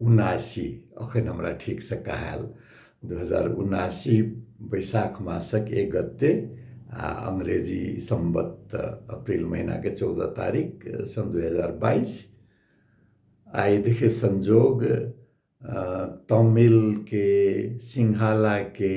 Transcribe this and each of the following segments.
उनासी अखन हमरा ठीकसँ कहायल दू हजार उनासी बैसाख मासक एक गते आ अंग्रेजी सम्बत अप्रिल महिनाके चौदह तारीख सन् दुई हजार बाइस आइ देखियो संजोग तमिलके सिंहालाके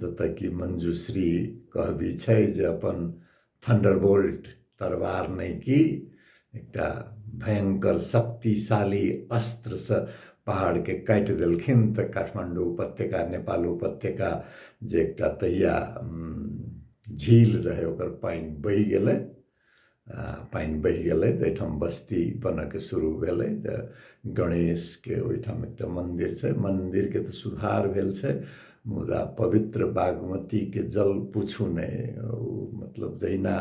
जतय कि मंजूश्री कहबी छै जे अपन थंडरबोल्ट तरवार नहि की एकटा भयंकर शक्तिशाली अस्त्रसँ पहाड़के काटि देलखिन तऽ काठमांडू उपत्यका नेपाल उपत्यका जे एकटा तहिया झील रहै ओकर पानि बहि गेलै पानि बहि गेलै तऽ एहिठाम बस्ती बनयके शुरू भेलै तऽ गणेशके ओहिठाम एकटा मन्दिर छै मन्दिरके तऽ सुधार भेल छै मुदा पवित्र बागमतीके जल पूछू नहि ओ मतलब जहिना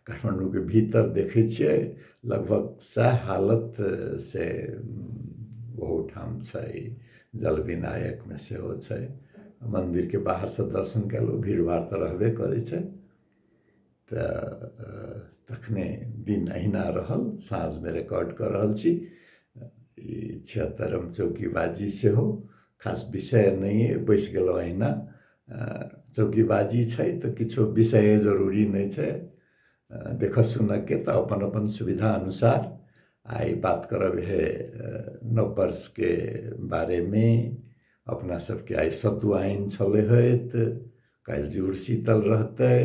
काठमाण्डूके भीतर देखै छियै लगभग सएह हालत से ओहूठाम छै जल विनायकमे सेहो छै मन्दिरके बाहरसँ दर्शन कयलहुँ भीड़ भाड़ तऽ रहबे करै छै तऽ तखने दिन अहिना रहल साँझमे रिकॉर्ड कऽ रहल छी ई छिहत्तरम चौकीबाजी सेहो खास विषय नहि अइ बैसि गेलहुँ अहिना चौकीबाजी छै तऽ किछो विषय जरूरी नहि छै देखऽ सुनऽके तऽ अपन अपन सुविधा अनुसार आइ बात करब हे नव वर्षके बारेमे अपना सबके आइ सतुआइन छलै होइत काल्हि जुड़शीतल रहतै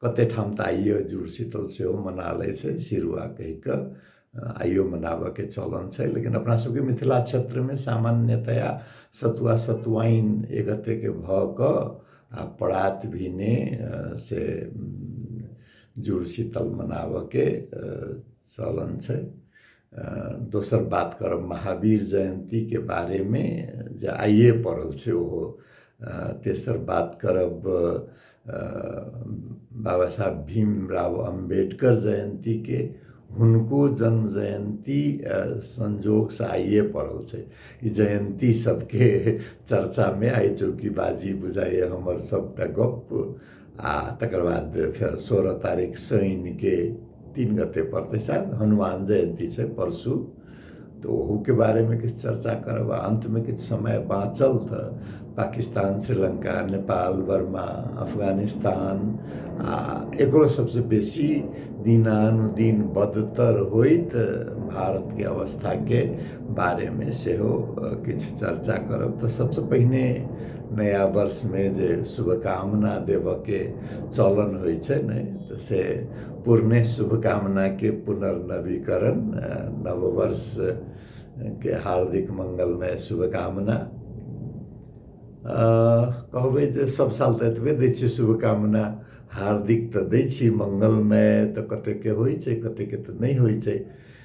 कते ठाम तऽ आइयो जुड़शीतल सेहो मना लै छै सिरुआ कहि कऽ आइयो मनाबऽके चलन छै लेकिन अपना सबके मिथिला क्षेत्रमे सामान्यतया सतुआ सतुआइन एकगतेके भऽ कऽ आ परात भेने से जुड़शीतल मनाबऽके चलन छै दोसर बात करब महावीर जयन्तीके बारेमे जे आइए पड़ल छै ओहो तेसर बात करब बाबा साहब भीमराव अम्बेडकर जयन्तीके हुनको जन्म जयन्ती संजोगसँ आइए पड़ल छै ई जयन्ती सबके चर्चामे आइ चौकीबाजी बुझाइए हमर सबटा गप्प आ तकर बाद फेर सोलह तारीख शनिके तीन गते पड़तै शायद हनुमान जयन्ती छै परसू तऽ ओहूके बारेमे किछु चर्चा करब आ अन्तमे किछु समय बाँचल तऽ पाकिस्तान श्रीलङ्का नेपाल बर्मा अफगानिस्तान आ एकरो सबसँ बेसी दिनानुदिन बदतर होइत भारतके अवस्थाके बारेमे सेहो अ, किछु चर्चा करब तऽ सबसँ पहिने नया वर्षमे जे शुभकामना देबऽके चलन होइ छै ने तऽ से पुरने शुभकामनाके पुनर्नवीकरण नव वर्षके हार्दिक मङ्गलमय शुभकामना कहबै जे सब साल तऽ एतबे दै छियै शुभकामना हार्दिक तऽ दै छियै मङ्गलमय तऽ कतेकके होइ छै कतेकके तऽ नहि होइ छै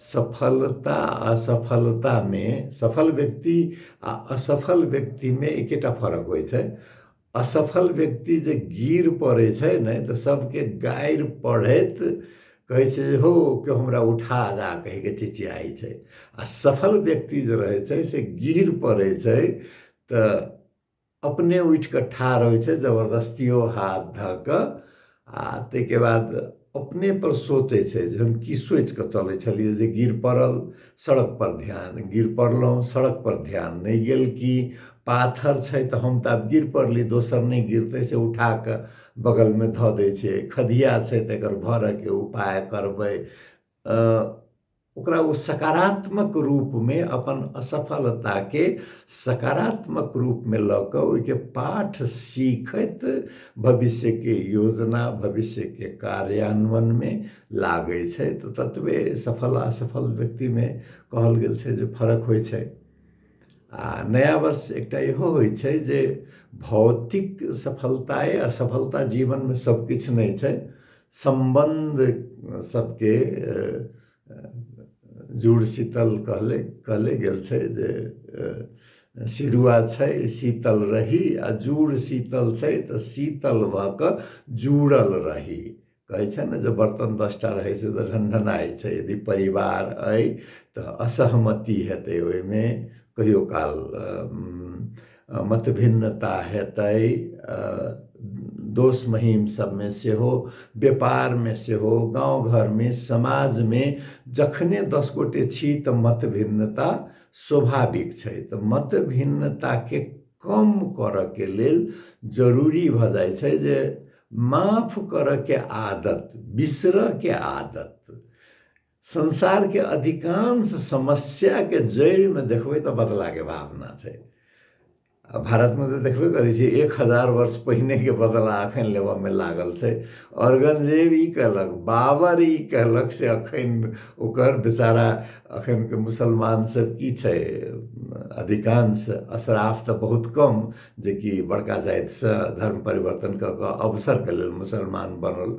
सफलता आ असफलतामे सफल व्यक्ति आ असफल व्यक्तिमे एकेटा फरक होइ छै असफल व्यक्ति जे गिर पड़ै छै ने तऽ सभके गारि पढ़ैत कहै छै जे हो केओ हमरा उठा दा कहिके चिचियाइ छै आ सफल व्यक्ति जे रहै छै से गिर पड़ै छै तऽ अपने उठि कऽ ठाढ़ होइ छै जबरदस्तियो हाथ धऽ कऽ आ ताहिके बाद अपने पर सोचै छै जे हम की सोचि कऽ चलै छलियै जे गिर पड़ल सड़क पर ध्यान गिर पड़लहुँ सड़क पर ध्यान नहि गेल कि पाथर छै तऽ हम तऽ आब गिर पड़ली दोसर नहि गिरतै से उठा कऽ बगलमे धऽ दै छै खदिया छै तऽ एकर भरयके उपाय करबै ओकरा ओ सकारात्मक रूपमे अपन असफलताके सकारात्मक रूपमे लऽ कऽ ओहिके पाठ सीखैत भविष्यके योजना भविष्यके कार्यान्वयनमे लागै छै तऽ ततबे सफल असफल व्यक्तिमे कहल गेल छै जे फरक होइ छै आ नया वर्ष एकटा इहो होइ छै जे भौतिक सफलताए असफलता जीवनमे सभकिछु नहि छै सम्बन्ध सबके जुड़ शीतल कहले कहले गेल छै जे सिरुआ छै शीतल रही आ जुड़ शीतल छै तऽ शीतल भऽ कऽ जुड़ल रही कहै छै ने जे बर्तन दसटा रहै छै तऽ ढनढनाइ छै यदि परिवार अइ तऽ असहमति हेतै ओहिमे कहियो काल मतभिन्नता हेतै दोस महीम सबमे सेहो व्यापारमे सेहो गाउँ घरमे समाजमे जखने दस गोटे छी तऽ मतभिन्नता स्वाभाविक छै तऽ मतभिन्नताके कम करऽके लेल जरूरी भऽ जाइ छै जे माफ करऽके आदत बिसरऽके आदत संसारके अधिकांश समस्याके जड़िमे देखबै तऽ बदलाके भावना छै आ भारतमे तऽ देखबे करै छियै एक हजार वर्ष पहिनेके बदला एखन लेबऽमे लागल छै औरगंजेब ई कहलक बाबर ई कहलक से एखन ओकर बेचारा एखनके मुसलमान सब की छै अधिकांश अशराफ तऽ बहुत कम जेकि बड़का जातिसँ धर्म परिवर्तन कऽ कऽ अवसरके लेल मुसलमान बनल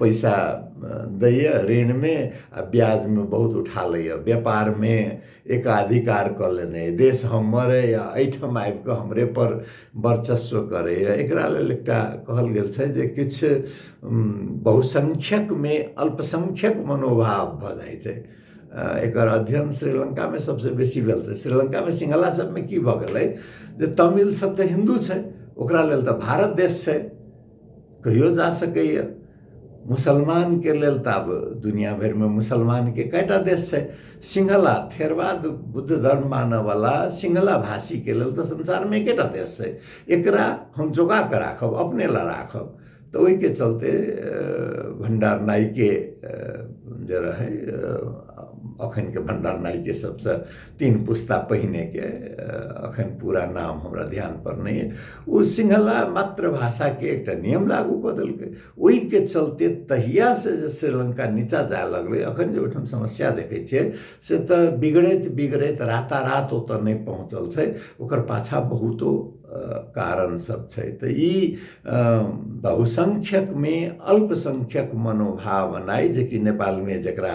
पैसा दैए ऋणमे आ ब्याजमे बहुत उठा लैए व्यापारमे एकाधिकार कऽ लेने अइ देश हमर अइ आ एहिठाम आबि कऽ हमरेपर वर्चस्व करैए एकरा लेल एकटा कहल गेल छै जे किछु बहुसङ्ख्यकमे अल्पसङ्ख्यक मनोभाव भऽ जाइ छै एकर अध्ययन श्रीलङ्कामे सभसँ बेसी भेल छै श्रीलङ्कामे सिंहला सभमे की भऽ गेलै जे तमिल सभ तऽ हिन्दू छै ओकरा लेल तऽ भारत देश छै कहियो जा सकैए मुसलमानके लेल तऽ आब दुनिया भरिमे मुसलमानके कएटा देश छै सिंहला थेरवाद बुद्ध धर्म मानऽवला सिंहला भाषीके लेल तऽ संसारमे एकेटा देश छै एकरा हम जोगा कऽ राखब अपने लए राखब तऽ ओहिके चलते भंडार नाइके जे रहै अखनके भंडार नाइके सबसँ तीन पुस्ता पहिनेके अखन पूरा नाम हमरा ध्यान पर नहि अइ ओ सिंहला मातृभाषाके एकटा नियम लागू कऽ देलकै ओहिके चलते तहियासँ जे श्रीलङ्का नीचाँ जाय लगलै अखन जे ओहिठाम समस्या देखै छियै से तऽ बिगड़ैत बिगड़ैत रातारात ओतऽ नहि पहुँचल छै ओकर पाछाँ बहुतो कारण सब छै तऽ ई बहुसङ्ख्यकमे अल्पसङ्ख्यक मनोभाव एनाइ जेकि नेपालमे जकरा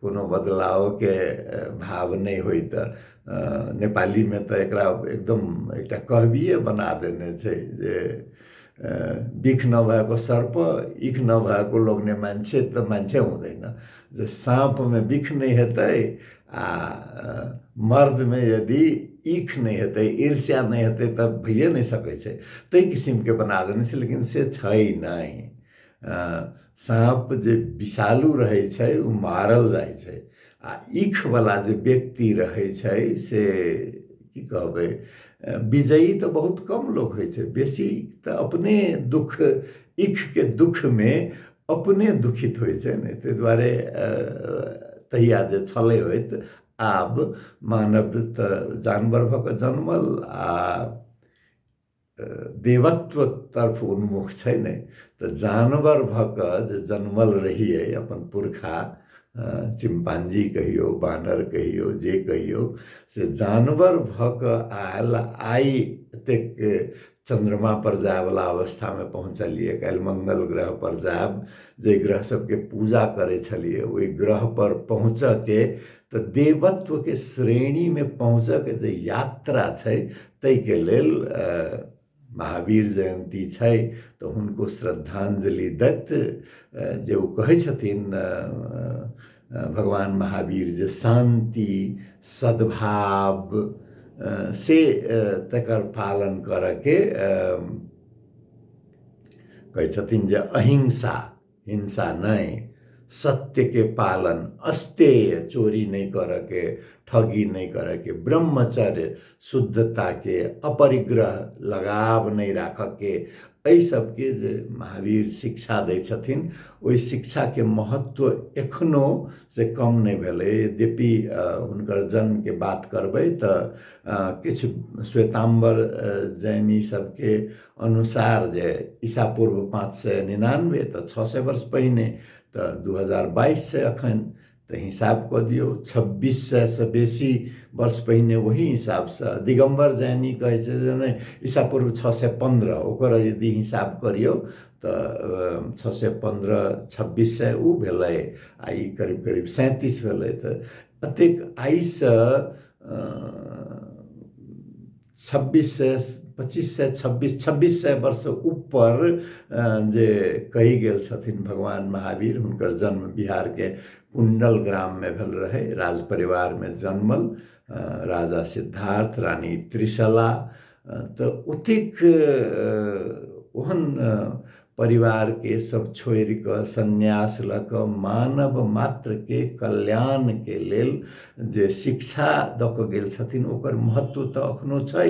कोनो बदलावके भाव नहि होइत नेपालीमे तऽ एकरा एकदम एकटा कहबिए बना देने छै जे बिख नभएको सर्प इख नभएको लोक नहि मान्छे तऽ मान्छे हुँदैन जे साँपमे बिख नहि हेतै आ मर्दमे यदि इख नहि हेतै ईर्ष्या नहि हेतै तऽ भइए नहि सकै छै ताहि किसिमके बना देने छै लेकिन से छै नहि साँप जे विषालु रहै छै ओ मारल जाइ छै आ ईखवला जे व्यक्ति रहै छै से की कहबै विजयी तऽ बहुत कम लोक होइ छै बेसी तऽ अपने दुःख ईखके दुःखमे अपने दुखित होइ छै ने ताहि दुआरे तहिया जे छलै होइत आब मानव तऽ जानवर भऽ कऽ जनमल आ देवत्व तर्फ उन्मुख छै नहि तऽ जानवर भऽ कऽ जे जनमल रहियै अपन पुरखा चिम्पांजी कहियौ बानर कहियौ जे कहियौ से जानवर भऽ कऽ आयल आइ एतेक चन्द्रमा पर जायवला अवस्थामे पहुँचलियै काल्हि मंगल ग्रह पर जायब जे ग्रह सबके पूजा करै छलियै ओहि ग्रह पर पहुँचऽके तऽ देवत्वके श्रेणीमे पहुँचऽके जे यात्रा छै ताहिके लेल महावीर जयन्ती छै तऽ हुनको श्रद्धाञ्जलि दैत जे ओ कहै छथिन भगवान महावीर जे शान्ति सद्भाव से तकर पालन करयके कहै छथिन जे अहिंसा हिंसा नै सत्य के पालन अस्तेय चोरी नै कर के ठगी नै कर के ब्रह्मचर्य शुद्धता के अपरिग्रह लगाव नै राख के एहि सबके जे महावीर शिक्षा दै छथिन ओहि शिक्षाके महत्व एखनो से कम नहि भेलै यद्यपि हुनकर जन्मके बात करबै तऽ किछु श्वेताम्बर जैनी सबके अनुसार जे ईसा पूर्व पाँच सय निनानबे तऽ छओ सय वर्ष पहिने तऽ दू हजार बाइस छै एखन तऽ हिसाब कऽ दियौ छब्बीस सएसँ बेसी वर्ष पहिने ओही हिसाबसँ दिगम्बर जैनी कहै छै जे नहि ईसा पूर्व छओ सय पन्द्रह ओकर यदि हिसाब करियौ तऽ छओ सय पन्द्रह छब्बीस सय ओ भेलै आ ई करीब करीब सैंतीस भेलै तऽ एतेक आइसँ छब्बीस सए पच्चीस सए छब्बीस छब्बीस सए वर्ष ऊपर जे कहि गेल छथिन भगवान महावीर हुनकर जन्म बिहारके कुंडल ग्राममे भेल रहै राज परिवारमे जन्मल राजा सिद्धार्थ रानी त्रिशला तऽ ओतेक ओहन परिवारके सब छोड़ि कऽ संन्यास लऽ कऽ मानव मात्रके कल्याणके लेल जे शिक्षा दऽ कऽ गेल छथिन ओकर महत्व तऽ अखनो छै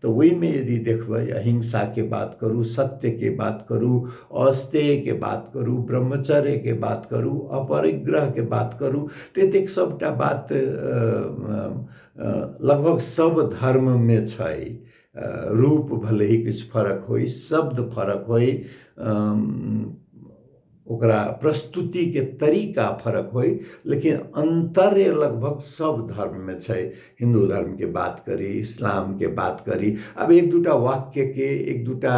तऽ ओहिमे यदि देखबै अहिंसाके बात करू सत्यके बात करू अस्तेयके बात करू ब्रह्मचर्यके बात करू अपरिग्रहके बात करू तऽ एतेक सभटा बात लगभग सभ धर्ममे छै रूप भलही किछु फरक होइ शब्द फरक होइ ओकरा प्रस्तुतिके तरीका फरक होइ लेकिन अन्तर्य लगभग सब धर्ममे छै हिन्दू धर्मके बात करी इस्लामके बात करी आब एक दूटा वाक्यके एक दूटा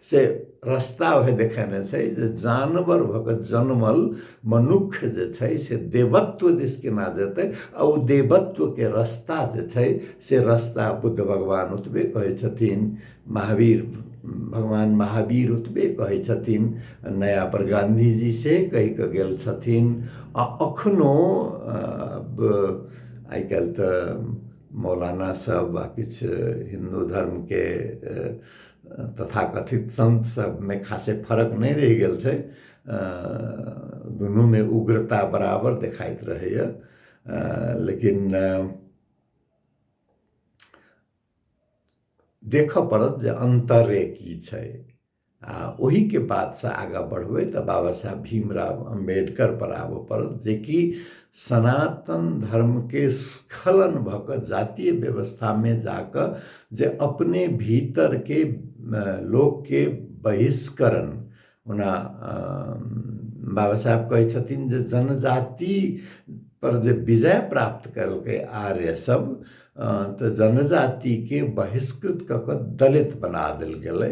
से रस्ता उहे देखेने छै जे जानवर भऽ कऽ जनमल मनुख जे छै से देवत्व दिस केना जेतै आ ओ देवत्वके रस्ता जे छै से रस्ता बुद्ध भगवान ओतबे कहै छथिन महावीर भगवान महावीर ओतबे कहै छथिन नया पर गांधीजी से कहि कऽ गेल छथिन आ अखनो आइ काल्हि तऽ मौलाना सब आ किछु हिन्दू धर्मके तथाकथित सन्त सबमे खासे फरक नहि रहि गेल छै दुनूमे उग्रता बराबर देखाइत रहैए लेकिन देखऽ पड़त जे अन्तरे की छै आ ओहिके बादसँ आगाँ बढ़बै तऽ बाबा साहब भीमराव अम्बेडकर पर आबऽ पड़त जेकि सनातन धर्मके स्खलन भऽ कऽ जातीय व्यवस्थामे जा कऽ जे अपने भीतरके लोकके बहिष्करण ओना बाबा साहेब कहै छथिन जे जनजाति पर जे विजय प्राप्त कयलकै आर्य सब तऽ जनजातिके बहिष्कृत कऽ कऽ दलित बना देल गेलै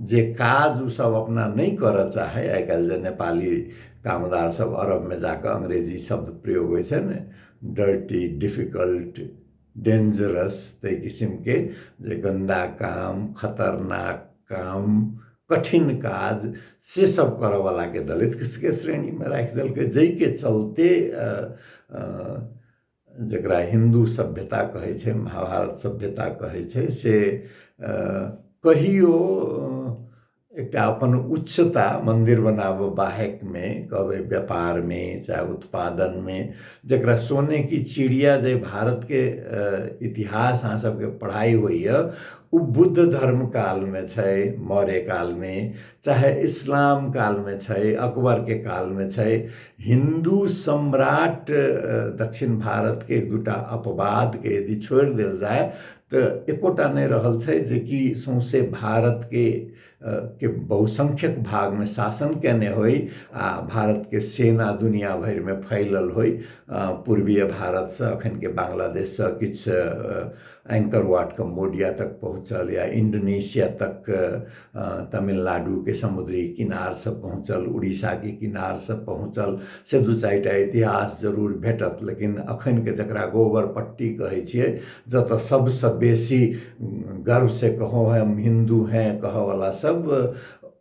जे काज ओ सब अपना नहि करऽ चाहै आइ काल्हि जे नेपाली कामदार सब अरबमे जाकऽ अंग्रेजी शब्द प्रयोग होइ छै ने डर्टी डिफिकल्ट डेंजरस ताहि किसिमके जे गन्दा काम खतरनाक काम कठिन काज से सब करऽवलाके दलितके श्रेणीमे राखि देलकै जाहिके चलते जकरा हिन्दू सभ्यता कहै छै महाभारत सभ्यता कहै छै से कहियो एकटा अपन उच्चता मन्दिर बनाबऽ बाहेकमे कहबै व्यापारमे चाहे उत्पादनमे जकरा सोने की चिड़िया जे भारतके इतिहास अहाँ सभके पढ़ाइ होइए ओ बुद्ध धर्म कालमे छै मौर्य कालमे चाहे इस्लाम कालमे छै अकबरके कालमे छै हिन्दू सम्राट दक्षिण भारतके एक दुटा अपवादके यदि छोड़ि देल जाय तऽ एकोटा नहि रहल छै जेकि सौंसे भारतके के बहुसंख्यक भागमे शासन केने होइ आ भारतके सेना दुनिया भरिमे फैलल होइ पूर्वीय भारतसँ अखनके बांग्लादेशसँ किछु एंकर वाट कम्बोडिया तक पहुँचल या इंडोनेशिया तक तमिलनाडुके समुद्री किनारसँ पहुँचल उड़ीसाके किनारसँ पहुँचल से दू चारि टा इतिहास जरूर भेटत लेकिन अखनके जकरा गोबर पट्टी कहै छियै जतऽ सभसँ बेसी गर्वसँ कहो हम हिन्दू हैं कहऽवला सभ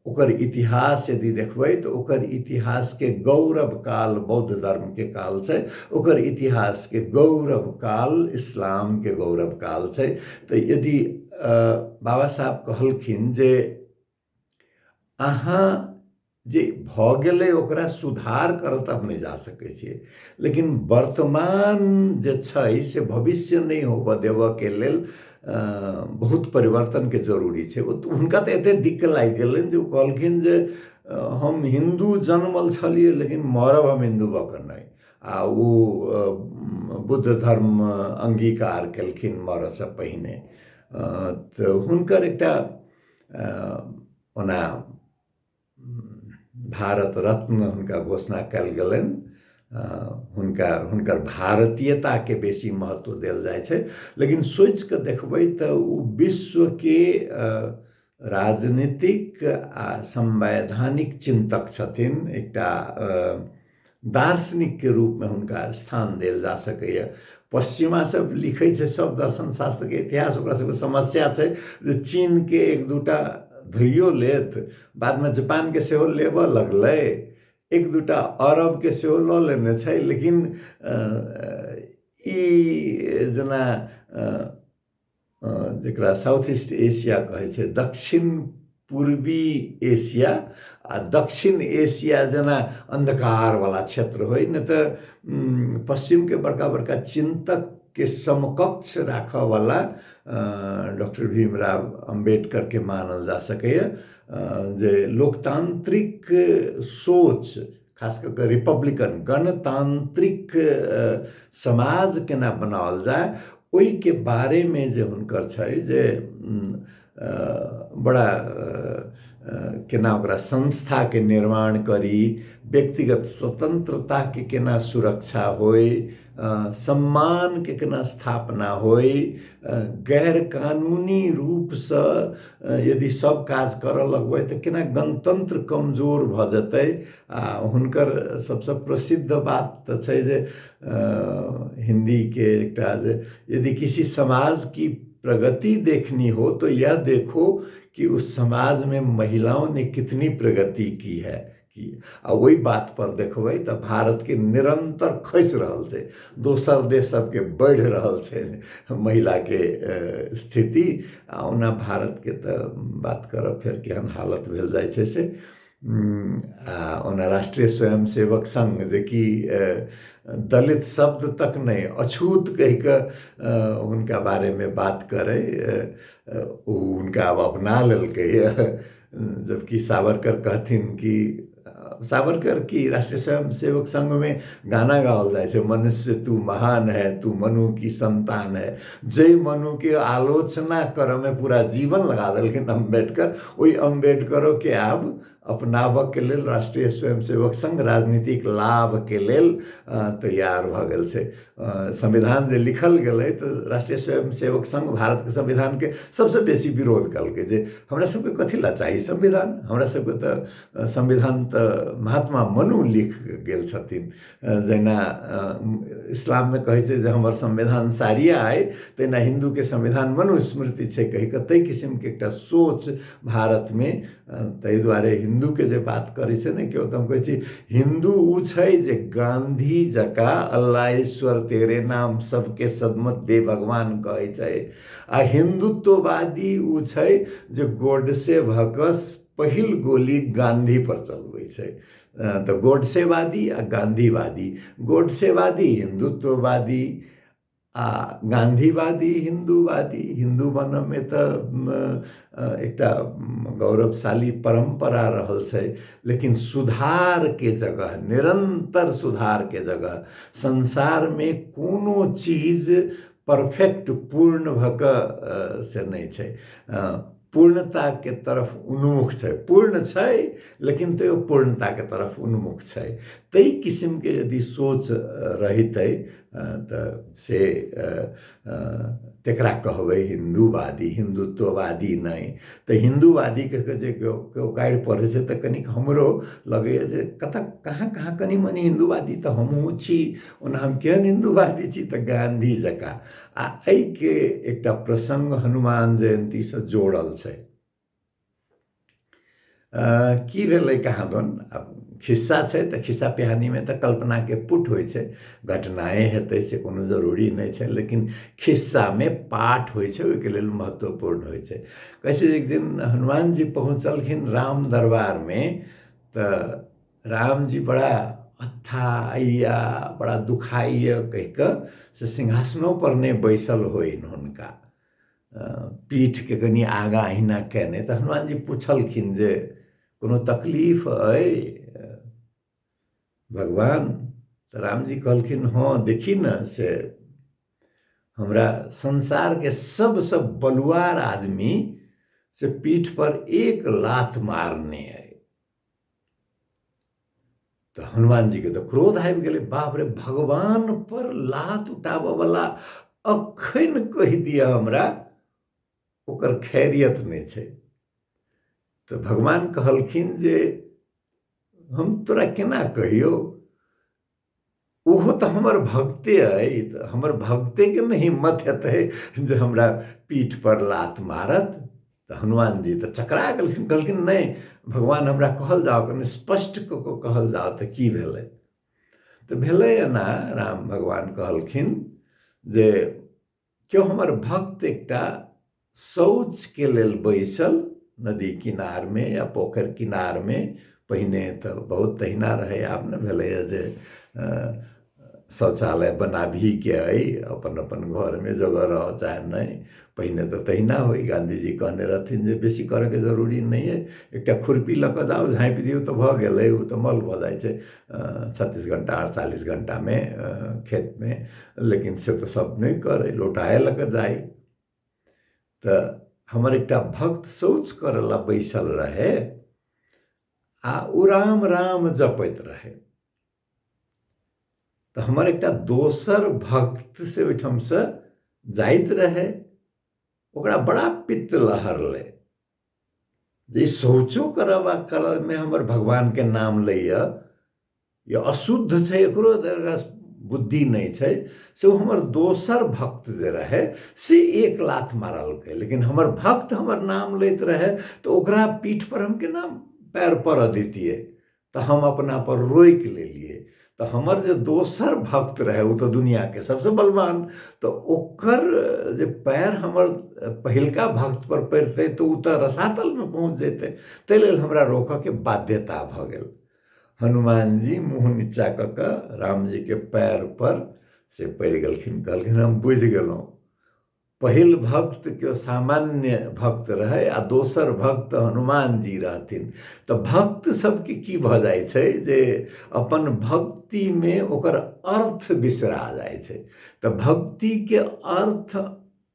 ओकर इतिहास यदि देखबै तऽ ओकर इतिहासके गौरव काल बौद्ध धर्मके काल छै ओकर इतिहासके गौरव काल इस्लामके गौरव काल छै तऽ यदि बाबा साहब कहलखिन जे अहाँ जे भऽ गेलै ओकरा सुधार करऽ तऽ अपने जा सकै छियै लेकिन वर्तमान जे छै से भविष्य नहि होबऽ देबऽके लेल बहुत परिवर्तनके जरूरी छै हुनका तऽ एतेक दिक्क लागि गेलनि जे ओ कहलखिन जे हम हिन्दू जनमल छलियै लेकिन मरब हम हिन्दू भऽ कऽ नहि आ ओ बुद्ध धर्म अङ्गीकार केलखिन मरऽसँ पहिने तऽ हुनकर एकटा ओना भारत रत्न हुनका घोषणा कयल गेलनि हुनका हुनकर भारतीयताके बेसी महत्व देल जाइ छै लेकिन सोचि कऽ देखबै तऽ ओ विश्वके राजनीतिक आ संवैधानिक चिन्तक छथिन एकटा दार्शनिकके रूपमे हुनका स्थान देल जा सकैए पश्चिमा सब लिखै छै सब दर्शन शास्त्रके इतिहास ओकरा सबके समस्या छै जे चीनके एक दूटा धोइयो लेत बादमे जापानके सेहो लेबऽ लगलै एक दूटा अरबके सेहो लऽ लेने छै लेकिन ई जेना जकरा साउथ ईस्ट एशिया कहै छै दक्षिण पूर्वी एशिया आ दक्षिण एशिया जेना अन्धकारवला क्षेत्र होइ नहि तऽ पश्चिमके बड़का बड़का चिन्तकके समकक्ष राखयवला डॉक्टर भीमराव अम्बेडकरके मानल जा सकैए जे लोकतान्त्रिक सोच खास कऽ कऽ रिपब्लिकन गणतान्त्रिक समाज केना बनाओल जाय ओहिके बारेमे जे हुनकर छै जे बड़ा केना ओकरा संस्थाके निर्माण करी व्यक्तिगत स्वतन्त्रताके केना सुरक्षा होइ सम्मानके केना स्थापना होइ गैर कानूनी रूपसँ यदि सब काज करऽ लगबै तऽ केना गणतन्त्र कमजोर भऽ जेतै आ हुनकर सबसँ प्रसिद्ध बात तऽ छै जे हिन्दीके एकटा जे यदि किसी समाज की प्रगति देखनी हो तो यह देखो कि उस समाजमे महिलाओं ने कितनी प्रगति की है कि आ ओहि बात पर देखबै तऽ भारत के निरंतर खस रहल छै दोसर देश सब के बढ़ रहल छै महिला के स्थिति आ ओना भारत के तऽ बात करब फेर केहन हालत भेल जाइ छै से आ ओना राष्ट्रीय स्वयं सेवक संघ जे कि दलित शब्द तक नहि अछूत कहि कऽ हुनका बारे मे बात करै ओ हुनका आब अपना लेलकै जबकि सावरकर कहथिन कि सावरकर की राष्ट्रीय स्वयं सेवक संघ में गाना गाओल जाए मनुष्य तू महान है तू मनु की संतान है जय मनु के आलोचना कर में पूरा जीवन लगा दिलखिन अम्बेडकर वही अम्बेडकरों के आब अपनाबऽ के लेल राष्ट्रीय स्वयं सेवक संघ राजनीतिक लाभ के लेल तैयार भऽ गेल छै संविधान जे लिखल गेलै तऽ राष्ट्रीय स्वयं सेवक संघ भारतके संविधानके सबसँ बेसी विरोध कयलकै जे हमरा सबके कथी लए चाही संविधान हमरा सबके तऽ संविधान तऽ महात्मा मनु लिख गेल छथिन जहिना इस्लाममे कहै छै जे हमर संविधान सारिया अइ तहिना हिन्दूके संविधान मनुस्मृति छै कहिके ताहि किसिमके एकटा सोच भारतमे ताहि दुआरे हिन्दूके जे बात करै छै ने केओ तऽ हम कहै छी हिन्दू ओ छै जे गाँधी जकाँ अल्लाह ईश्वर तेरे नाम सबके सदमत दे भगवान कहै छै आ हिन्दुत्ववादी ओ छै जे गोडसे भऽ कऽ पहिल गोली गाँधी पर चलबै छै तऽ गोडसेवादी आ गाँधीवादी गोडसेवादी हिन्दुत्ववादी आ गाँधीवादी हिन्दूवादी हिन्दू बनऽमे तऽ एकटा गौरवशाली परम्परा रहल छै लेकिन सुधारके जगह निरन्तर सुधारके जगह संसारमे कोनो चीज परफेक्ट पूर्ण भऽ कऽ से नहि छै पूर्णताके तरफ उन्मुख छै पूर्ण छै लेकिन तैयो पूर्णताके तरफ उन्मुख छै ताहि किसिमके यदि सोच रहितै तऽ से तकरा कहबै हिन्दूवादी हिन्दुत्ववादी नहि तऽ हिन्दूवादीके जे केओ केओ गारि पढ़ै छै तऽ कनिक हमरो लगैए जे कतहु कहाँ कहाँ कनि मनि हिन्दूवादी तऽ हमहूँ छी ओना हम केहन हिन्दूवादी छी तऽ गाँधी जकाँ आ एहिके एकटा प्रसङ्ग हनुमान जयन्तीसँ जोड़ल छै की भेलै कहाँ दन आब खिस्सा छै तऽ खिस्सा पिहानीमे तऽ कल्पनाके पुट होइ छै घटनाए हेतै से कोनो जरूरी नहि छै लेकिन खिस्सामे पाठ होइ छै ओहिके लेल महत्वपूर्ण होइ छै कहै छै एक दिन हनुमानजी पहुँचलखिन राम दरबारमे तऽ राम जी बड़ा अथा अय्या बड़ा दुखाइ कहि कऽ से सिंहासनो पर नहि बैसल होइ हुनका पीठके कनि आगाँ अहिना कयने तऽ हनुमान जी पुछलखिन जे कोनो तकलीफ अइ भगवान तऽ रामजी कहलखिन हँ देखी ने से हमरा संसारके सबसँ बलुआर आदमी से पीठ पर एक लात मारने अइ तऽ हनुमान जी के तऽ क्रोध आबि गेलै बाप रे भगवान पर लात उठाबऽ वाला अखन कहि दिअ हमरा ओकर खैरियत नहि छै तऽ भगवान कहलखिन जे हम तोरा केना कहियौ ओहो तऽ हमर भक्ते अइ तऽ हमर भक्तेके ने हिम्मत हेतै जे हमरा पीठपर लात मारत तऽ हनुमान जी तऽ चकरा गेलखिन कहलखिन नहि भगवान हमरा कहल जाओ कनि स्पष्ट कऽ कऽ कहल जाओ तऽ की भेलै तऽ भेलै एना राम भगवान कहलखिन जे केओ हमर भक्त एकटा शौचके लेल बैसल नदी किनारमे या पोखरि किनारमे पहिने तऽ बहुत तहिना रहै आब ने भेलैए जे शौचालय बनाबहीके अइ अपन अपन घरमे जगह रहऽ चाहे नहि पहिने तऽ तहिना होइ गाँधीजी कहने रहथिन जे बेसी करयके जरूरी नहि अइ एकटा खुरपी लऽ कऽ जाउ झाँपि दियौ तऽ भऽ गेलै ओ तऽ मल भऽ जाइ छै छत्तीस घंटा अड़तालीस घंटा में खेत में लेकिन से तो सब नहीं करे लोटाए लग जाए तो हमर एक भक्त शौच करला बैसल रहे आ ओ राम राम जपैत रहे तो हमर एक दोसर भक्त से ओहिठाम से जाइत रहे ओकरा बड़ा पित्त लहरलै जे शौचो करब आ करबमे हमर भगवानके नाम लैए या अशुद्ध छै एकरो बुद्धि नहि छै से हमर दोसर भक्त जे रहै से एक लात मारलकै लेकिन हमर भक्त हमर नाम लैत रहै तऽ ओकरा पीठपर हम केना पैर पड़ऽ दैतियै तऽ हम अपना पर रोकि लेलियै तऽ हमर जे दोसर भक्त रहय ओ तऽ दुनिआँके सभसँ बलवान तऽ ओकर जे पैर हमर पहिलका भक्त पर पड़ितै तऽ ओ तऽ रसातलमे पहुँच जेतै ताहि लेल हमरा रोकयके बाध्यता भऽ गेल हनुमान जी मुँह नीचा कऽ कऽ रामजीके पैर पर से पड़ि गेलखिन कहलखिन हम बुझि गेलहुँ पहिल भक्त केओ सामान्य भक्त रहै आ दोसर भक्त हनुमान जी रहथिन तऽ भक्त सबके की भऽ जाइ छै जे अपन भक्तिमे ओकर अर्थ बिसरा जाइ छै तऽ भक्तिके अर्थ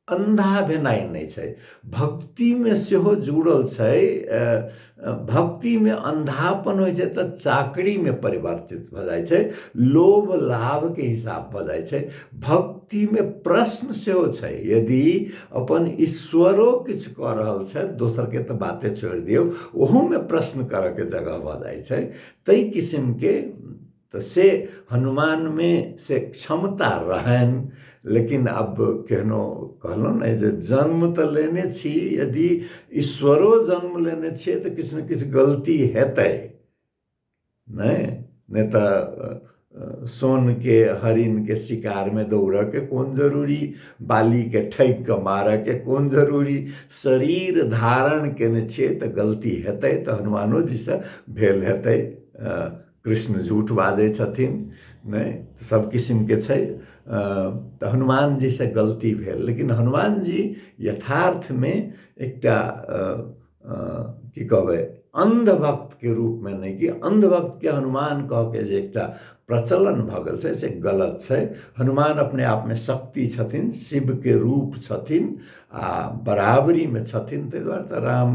अन्धा भेनाइ नहि छै भक्तिमे सेहो जुड़ल छै भक्तिमे अन्धापन होइ छै तऽ चाकरीमे परिवर्तित भऽ जाइ छै लोभ लाभके हिसाब भऽ जाइ छै भक्तिमे प्रश्न सेहो छै यदि अपन ईश्वरो किछु कऽ रहल छथि दोसरके तऽ बाते छोड़ि दियौ ओहूमे प्रश्न करऽके जगह भऽ जाइ छै तै किसिमके तऽ से हनुमानमे से क्षमता रहनि लेकिन आब केहनो कहलहुँ ने जे जन्म तऽ लेने छी यदि ईश्वरो जन्म लेने छियै तऽ किछु ने किछु गलती हेतै नहि नहि तऽ सोनके हरिनके शिकारमे दौड़यके कोन जरूरी बालीके ठकि कऽ मारयके कोन जरूरी शरीर धारण कयने छियै तऽ गलती हेतै तऽ हनुमानोजीसँ भेल हेतै कृष्ण झूठ बाजै छथिन नहि तऽ सब किसिमके छै तऽ हनुमान जीसँ गलती भेल लेकिन हनुमान जी यथार्थमे एकटा की कहबै अन्धभक्तके रूपमे नहि कि अन्धभक्तके हनुमान कहके जे एकटा प्रचलन भऽ गेल छै से गलत छै हनुमान अपने आपमे शक्ति छथिन शिवके रूप छथिन आ बराबरीमे छथिन ताहि दुआरे तऽ राम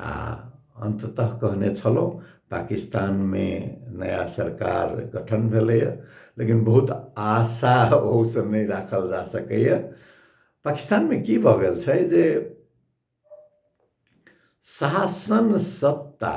आ अन्ततः कहने छलहुँ पाकिस्तानमे नया सरकार गठन भेलैए लेकिन बहुत आशा ओहूसँ नहि राखल जा सकैए पाकिस्तानमे की भऽ गेल छै जे शासन सत्ता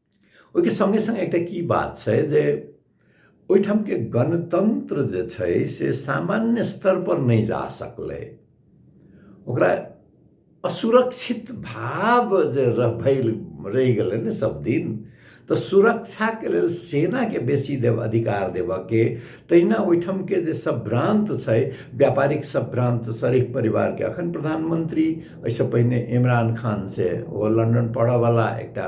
ओहिके सङ्गे सङ्गे एकटा की बात छै जे ओहिठामके गणतन्त्र जे छै से सामान्य स्तरपर नहि जा सकलै ओकरा असुरक्षित भाव जे भेल रहि गेलै ने सब दिन तऽ सुरक्षाके लेल सेनाके बेसी देव अधिकार देबऽके तहिना ओहिठामके जे सब भ्रान्त छै व्यापारिक सब भ्रान्त शरीफ परिवारके अखन प्रधानमन्त्री एहिसँ पहिने इमरान खान से ओ लन्दन पढ़ऽवला एकटा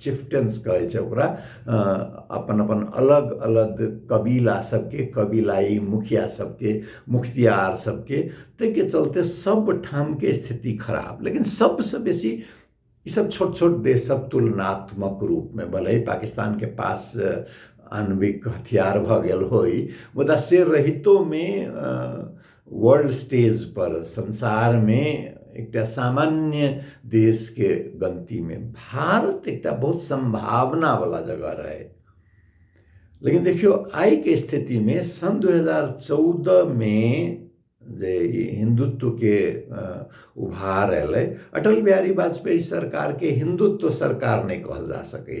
चिफ्टन्स कहै छै ओकरा अपन अपन अलग अलग कबीला सबके कबीलाई मुखिया सबके मुख्तियार सबके ताहिके चलते सब ठामके स्थिति खराब लेकिन सबसँ बेसी ई सब छोट छोट देश सब तुलनात्मक रूपमे भले पाकिस्तानके पास आणविक हथियार भऽ गेल होइ मुदा से रहितोमे वर्ल्ड स्टेज पर संसार में एक सामान्य देश के गलती में भारत एक बहुत संभावना वाला जगह रहे लेकिन देखियो आई के स्थिति में सन 2014 में जे हिंदुत्व के उभार अल अटल बिहारी वाजपेयी सरकार के हिंदुत्व सरकार नहीं कहल जा सके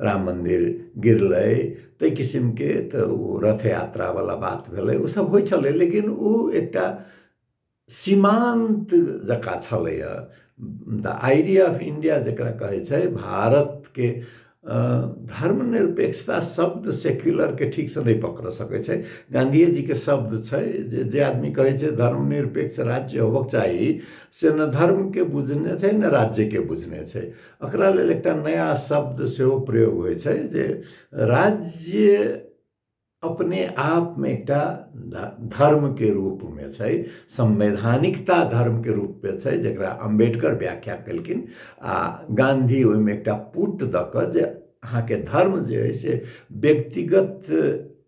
राम मन्दिर गिरलै ताहि किसिमके तऽ ओ रथ यात्रावला बात भेलै ओ सब होइ छलै लेकिन ओ एकटा सीमान्त जकाँ छलैए द आइडिया ऑफ इण्डिया जकरा कहै छै भारतके धर्म निरपेक्षता शब्द सेक्युलरके ठीकसँ नहि पकड़ि सकै छै गाँधिएजीके शब्द छै जे जे आदमी कहै छै धर्म निरपेक्ष राज्य होबऽके चाही से नहि धर्मके बुझने छै नहि राज्यके बुझने छै एकरा लेल एकटा नया शब्द सेहो प्रयोग होइ छै जे राज्य अपने आपमे एकटा धर्मके रूपमे छै संवैधानिकता धर्मके रूपमे छै जकरा अम्बेडकर व्याख्या केलखिन आ गाँधी ओहिमे एकटा पुट दऽ कऽ जे अहाँके धर्म जे अइ से व्यक्तिगत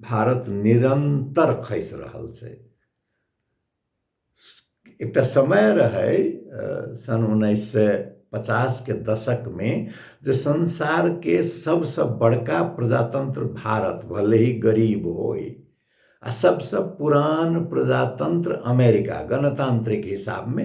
भारत निरन्तर खसि रहल छै एकटा समय रहै सन् उन्नैस सए पचासके दशकमे जे संसारके सबसँ बड़का प्रजातन्त्र भारत भले ही गरीब होइ आ सबसँ पुरान प्रजातन्त्र अमेरिका गणतान्त्रिक हिसाबमे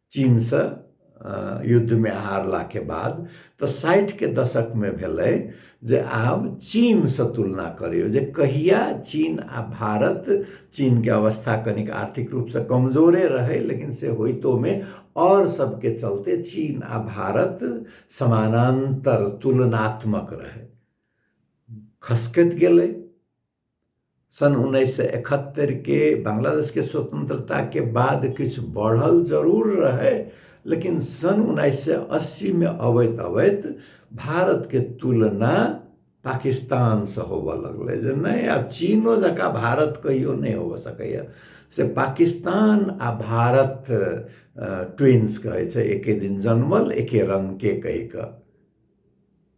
चीनसँ युद्धमे हारलाके बाद तऽ साठिके दशकमे भेलै जे आब चीनसँ तुलना करियौ जे कहिया चीन आ भारत चीनके अवस्था कनिक आर्थिक रूपसँ कमजोरे रहै लेकिन से होइतोमे आओर सबके चलते चीन आ भारत समानान्तर तुलनात्मक रहै खसकैत गेलै सन उन्नैस सए एकहत्तरिके बांग्लादेशके स्वतंत्रताके बाद किछु बढ़ल जरूर रहै लेकिन सन उन्नैस सए अस्सीमे अबैत अबैत भारतके तुलना पाकिस्तानसँ होबऽ लगलै जे नहि आब चीनो जकाँ भारत कहियो नहि होबऽ सकैए से पाकिस्तान आ भारत ट्विन्स कहै छै एके दिन जन्मल एके रङ्गके कहि कऽ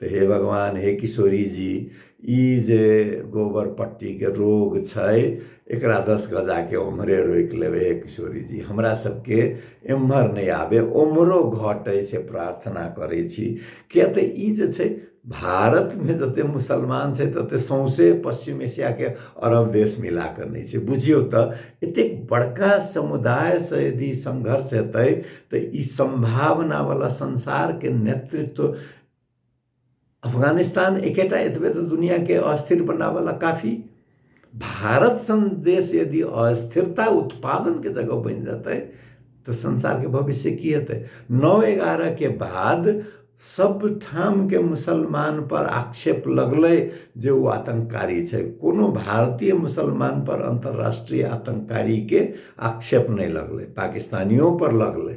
तऽ हे भगवान हे किशोरी जी ई जे गोबर पट्टीके रोग छै एकरा दस गजाके ओम्हरे रोकि लेबै हे किशोरी जी हमरा सबके एम्हर नहि आबे ओम्हरो घटै से प्रार्थना करै छी किए तऽ ई जे छै भारतमे जते मुसलमान छै तते सौंसे पश्चिम एशियाके अरब देश मिला कऽ नहि छै बुझियौ तऽ एतेक बड़का समुदायसँ यदि संघर्ष हेतै तऽ ई सम्भावनावला संसारके नेतृत्व अफगानिस्तान एकेटा एतबे तऽ दुनियाके अस्थिर बनाबैला काफी भारत सन देश यदि अस्थिरता उत्पादनके जगह बनि जेतै तऽ संसारके भविष्य की हेतै नौ एगारहके बाद सब ठामके मुसलमान पर आक्षेप लगलै जे ओ आतंककारी छै कोनो भारतीय मुसलमान पर अन्तर्राष्ट्रीय आतंककारीके आक्षेप नहि लगलै पाकिस्तानियों पर लगलै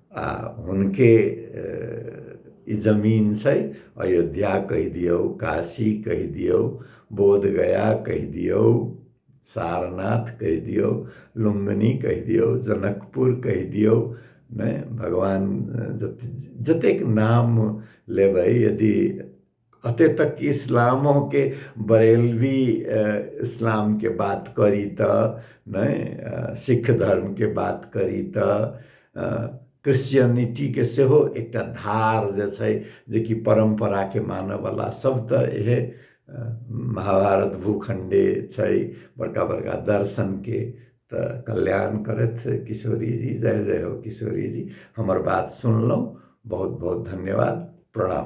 आ हुनके ई जमीन छै अयोध्या कहि दियौ काशी कहि दियौ बोधगया कहि दियौ सारनाथ कहि दियौ लुम्बिनी कहि दियौ जनकपुर कहि दियौ नहि भगवान जतेक नाम लेबै यदि अते तक कि इस्लामो के बरेलवी इस्लाम के बात करी त नहीं सिख धर्म के बात करी त क्रिश्चियनिटी के सेहो एकटा धार जे छै जे कि परंपरा के मानय वाला सब त इहे महाभारत भूखंडे छै बड़का बड़का दर्शन के त कल्याण करथ किशोरी जी जय जय हो किशोरी जी हमर बात सुनलहुँ बहुत बहुत धन्यवाद प्रणाम